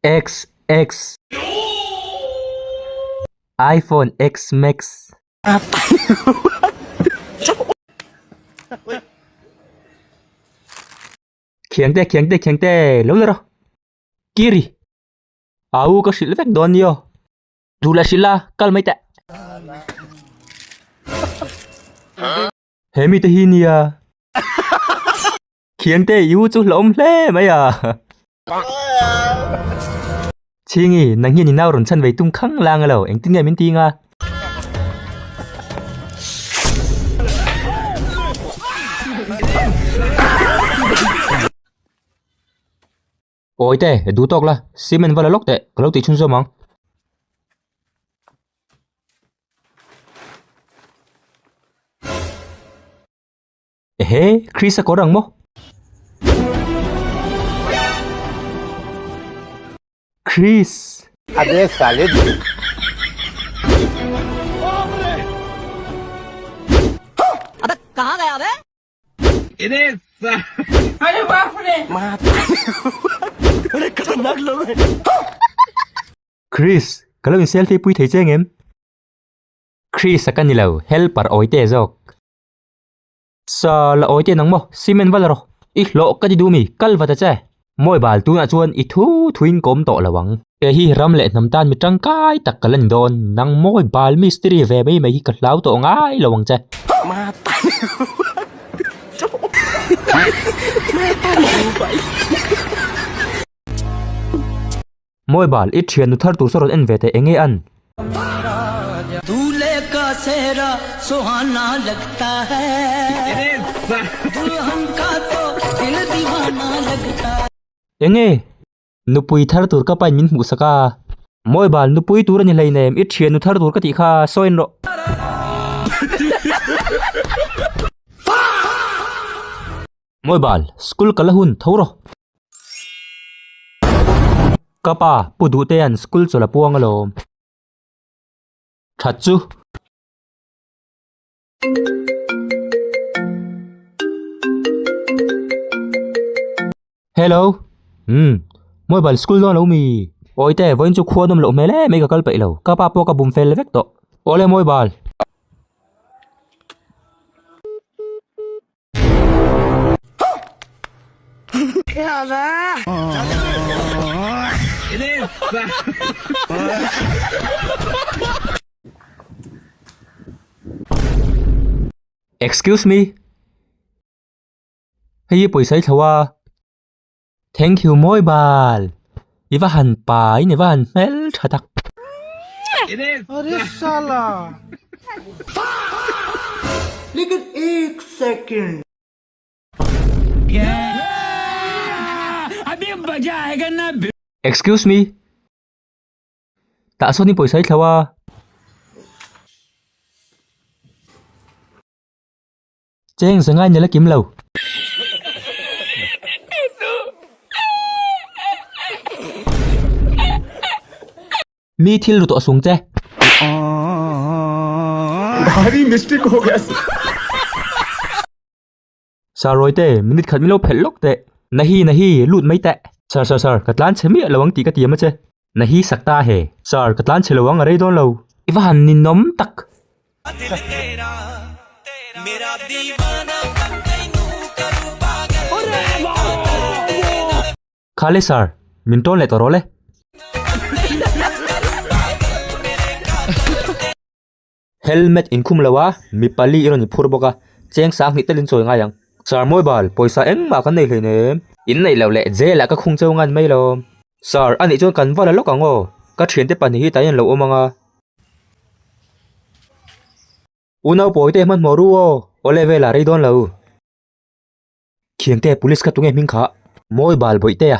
X X iPhone X Max Khiang te khiang te khiang te lo lera Kiri Au ka shil vek don yo Tula shila kal mai te He mite hi nia. Khiangte i u chu hlawm hle mai a. Chingi, nang hian inau rawn chhan ve tum khang lang alo, engtin nge min tinga? Awi te, e duh tawk la, cement va la lawk teh, ka lo tih chhun zawm ang. Ehe, Chris a kawr ang maw? Chris! Ade salib. Abe, kahan gaya abe? Chris ka lo in selfie pui thei cheng em? Chris a ka ni lo, helper awi te zawk. Sal a awi te nang maw? Cement vala rawh. I hlawh ka ti duh mi, kal vata che. Mawi bal tunah chuan i thu thuin kawm tawh lo ang. Kei hi ram leh hnam tan mi tangkai tak ka la ni dawn. Nang mawi bal mistiri ve mai mai hi ka hlau tawh ngai lo ang che. Mawi bal, i thiannu thar tur saw rawn en ve ta eng nge an? Enge? Nupui thar tur ka pain min hmuhsak a. Mawi bal, nupui tur a ni hlei na em? I thiannu thar tur ka tih kha sawiin rawh. Mawi bal, school ka la hun tho rawh. Ka pa, pu duh te an school chaw la puang alawm. That chu. Hello, umm, mawi bal school dawn lo mi? Awi te, vawiin chu khua dum loh hmel em mai ka kal peih lo. Ka pa pawh ka bum fel vek tawh. Awle mawi bal. Excuse me, hei hi pawisai thloh a. Thank you mawi bal i va han pa in i va han hmel tha tak. Excuse me tah sawn i pawisa i thlo a. Cheng sengai nila kim lo. Mi thil ru tawh sung che. Gari mistake ho gaya si. Sir rawi te minute khat milo phelh lawk teh. Nahi nahi lut mai teh. Sir sir sir ka tlan chhe miah lo ang tih ka ti em a che. Na hi sak ta he. Sir, ka tlan chhilo ang, a rei dawn lo. I va han ninawm tak. Kha le sir, min tawn leh tawh rawh le. Helmet in khum lo a mi pali erawh an inphur bawk a cheng sang hnih telin chawi ngai ang sir mawi bal pawisa engmah kan nei hlei nen em? Inneih loh leh jail ah ka khung cheu ngan mai lawm. Sir anih chuan kan va la lawk ang aw ka thiante pahnih hi tlai an lo awm ang a. U Naupawi te hmanhmawh ru aw aw level ah rei dawn lo. Khiangte police kha tunge hming khah. Mawi bal bawih te a.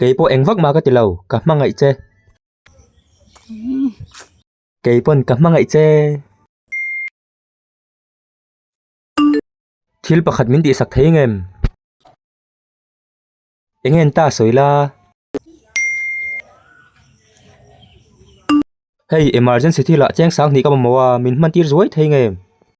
Kei pawh eng vak ma ka ti lo, ka hmangaih che. Kei pawn ka hmangaih che. Thil pakhat min tihsak thei nge em? Eng en ta sawi la? Hei, emergency thil ah cheng sang hnih ka mamawh a, min hmantir zuai thei nge em?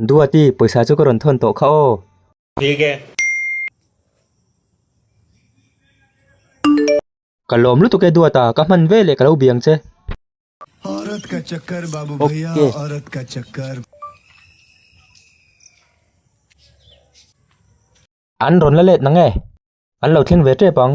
Duati, pawisa chu ka rawn thawn tawh kha aw. Thilge. Ka lawm lutuk e Duata, ka hman ve leh ka lo biang che. Ok. An rawn la let na nge? An lo thleng ve tep ang.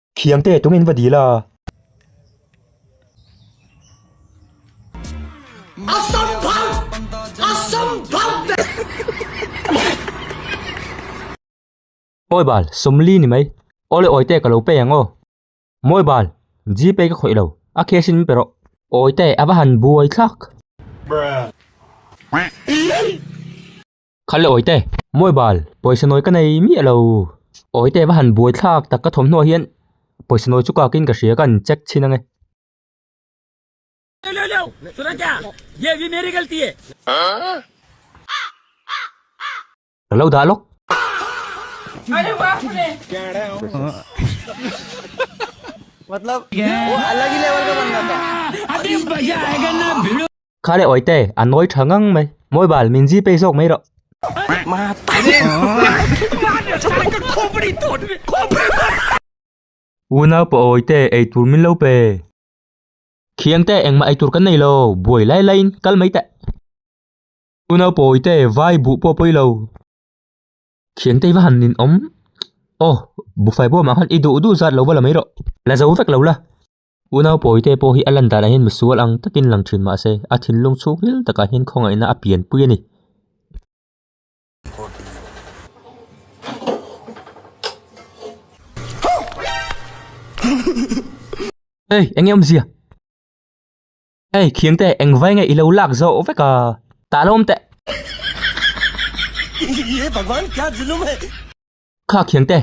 Thiam te tungin va dil a. A sam bharh! A sam bharh beh! Awi bal, sawmli ni mai. Aw le Awite, ka lo pay ang aw. Mawi bal, GPay ka khawih lo, a cash in min pe rawh. Awite, a va han buai thlak. Bruh. Kha le Awite, Mawi bal, pawisa nawi ka nei miah lo. Awite va han buai thlak tak ka thawmhnaw hian pawisa nawi chu kakin ka hria kan check chhin ange. Ka lo dah lawk. Khale awite a nawi tha ngang mai. Mobile min zii phei zawk mai rawh. Unau pawh awite ei tur min lo pe. Thiante engmah ei tur kan nei lo. Buai lai lai in kal mai teh. Unau pawh awite vai buh pawh pawih lo. Thiante i va han in awm. Aw, Bufai pawh mah khan i duh duh zat lo va la mai rawh. La zo vek lo la. U Naupawitea pawh hi a lan danah hian misual ang takin lang thin mah se, a thinlung chhuk nghil takah hian khawngaihna a pianpui a ni. Hey, eng nge awmzia? Hey, Khiangte, eng vai nge i lo lak zawh vek a? Tah lo awmte. Ye Bhagwan, kya zulum hai? Kha Khiangte.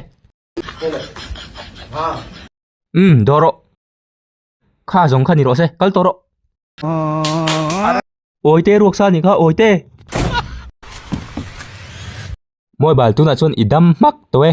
Umm dawr rawh. Kha zawng kha ni rawh se, kal tawh rawh. Awite ruaksa ni kha awite. Mobile tunah chuan i dam hmak tawh e.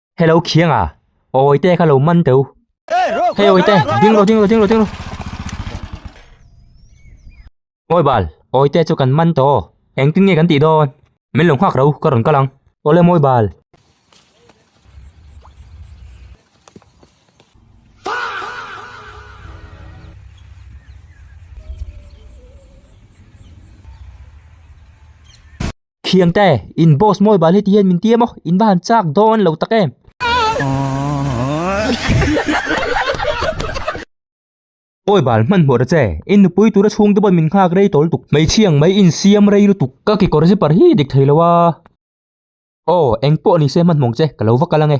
Hello khiang à Ôi tê ka lo man teu Hey ôi tê Ding lo ding lo ding lo ding lo Ôi bal Ôi tê chu kan man to Eng tin nge kan ti don Min lo nghak rau ka ron kalang Ole moi bal Thiang te, in boss mawi bal hetihian min tia maw, in va han chak dawn lo tak em. Pawi bal hman hmuh ra che, in nupui tura chhungte pawh min nghak rei tawl tuk, hmeichhia ang mai in siam rei lutuk, ka kekawr zipper hi dik thei lo a. Aw, engpawh nise hman hmawng che, ka lo va kal ange.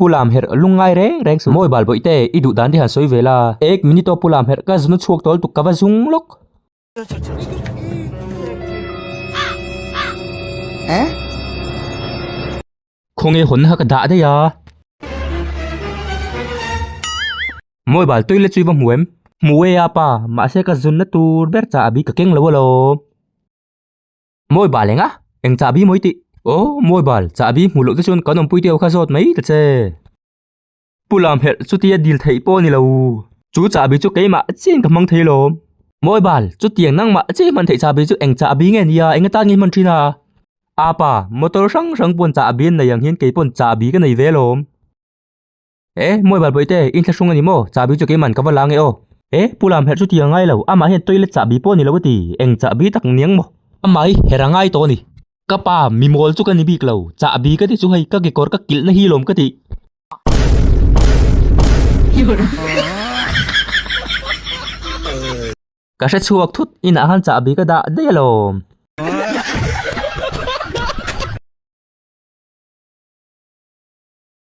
Pu Lam herh lung ngai reng reng suh. Mawi Balbawi te, i duh dan diaha sawi ve la. Ek minute aw Pu Lam herh ka zunu chhuak tawl tuk ka va zung lawk. Khaw nge hawn kha ka dah daih a. Mawi Bal toilet chu i va hmu em? Hmu e a pa, mahse ka zunna tur ber caah a bik ka keng lo alawm. Mawi bal eng a? Eng chahbi mawi tih? Aw, mawi bal, chahbi hmuh loh te chuan kan awmpuite ho kha zawt mai ta che. Pu Lam herh, chutia dil theih pawh a ni lo. Chu chahbi chu keimah chian ka hmang thei lawm. Mawi bal, chutiang nangmah che hman theih chahbi chu eng chahbi nge nia, eng atan nge hman thin a? Apa, motor hrang hrang pawn chahbi an nei ang hian kei pawn chahbi ka nei ve lawm. E, Mawi Balbawi te, in thlahrung a ni maw? Chahbi chu keiman ka va la nge aw. E, Pu Lam herh chu ti a ngai lo, amah hian toilet chahbi pawh a ni lo a ti, eng chahbi tak niang maw? Amah hi herh a ngai tawh a ni. Ka pa, mimawl chu ka ni bik lo, chahbi ka ti chu hei ka kekawr ka kilh na hi lawm ka ti. Ka hre chhuak thut, inah khan chahbi ka dah daih alawm.